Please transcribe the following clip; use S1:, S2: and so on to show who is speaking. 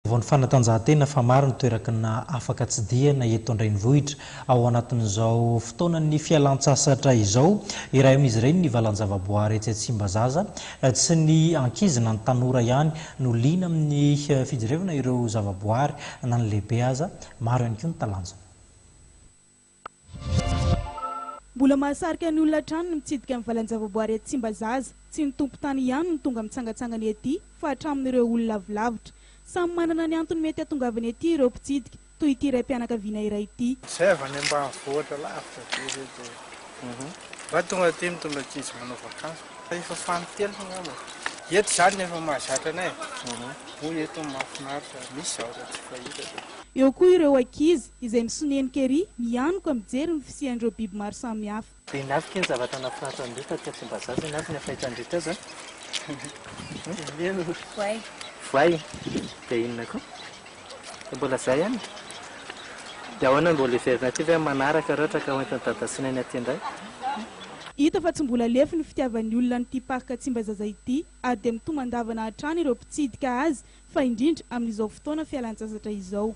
S1: Vao ny fanatanjahantena fa maro ny toerakna afaka tsidihana eto an-drenivohitra ao anatin'izao fotoanan'ny fialantsasatra izao. Iray amin'izy ireny ny valanjavaboahary etsy Tsimbazaza. Tsy ny ankizy na ny tanora ihany no liana amin'ny fijerevana ireo zavaboahary na ny lehibe aza. Maro ihany koa ny talanjona.
S2: Mbola mahasarika ny olona hatrany ny mitsidika ny valan-javaboary etsy Tsimbazaza. Tsy ny tompon-tany ihany no tonga mitsangatsangana ety fa hatramin'ireo olona avy lavitra. Samy manana ny antony mety hahatongavany ety ireo mpitsidika, toy ity raim-pianakaviana iray ity. Izay avy any ambanivohitra
S3: lavitra be izay dia mba tonga aty mitondra ankizy manao vakansy. Efa fahan'ny telo angamba. Eto izany no efa mahazatra anay e. Hoy eto ny mahafinaritra, misy zavatra tsy fahita. Eo koa ireo
S2: ankizy. izay misonenika ery, mianoka mijery ny fisian'ireo biby maro samihafa. Be navika ny zavatra
S4: nahafinaritra an'ireo taty aty Ambazaza ianareo ny afaitra nandritra azy an! Indreo voay. Voay? Dia inona koa? Dia mbola izay ihany e! Dia ahoana no mbola heverina aty ve amin'ny manaraka ireo traka hoentin'i Dadasina ny aty indray? Hita
S2: fa tsy mbola lefy ny fitiavan'ny olona an'ity parc Tsimbazaza ity ary dia mitomandavana hatrany ireo mpitsidika azy fa indrindra amin'izao fotoana fialantsasatra izao.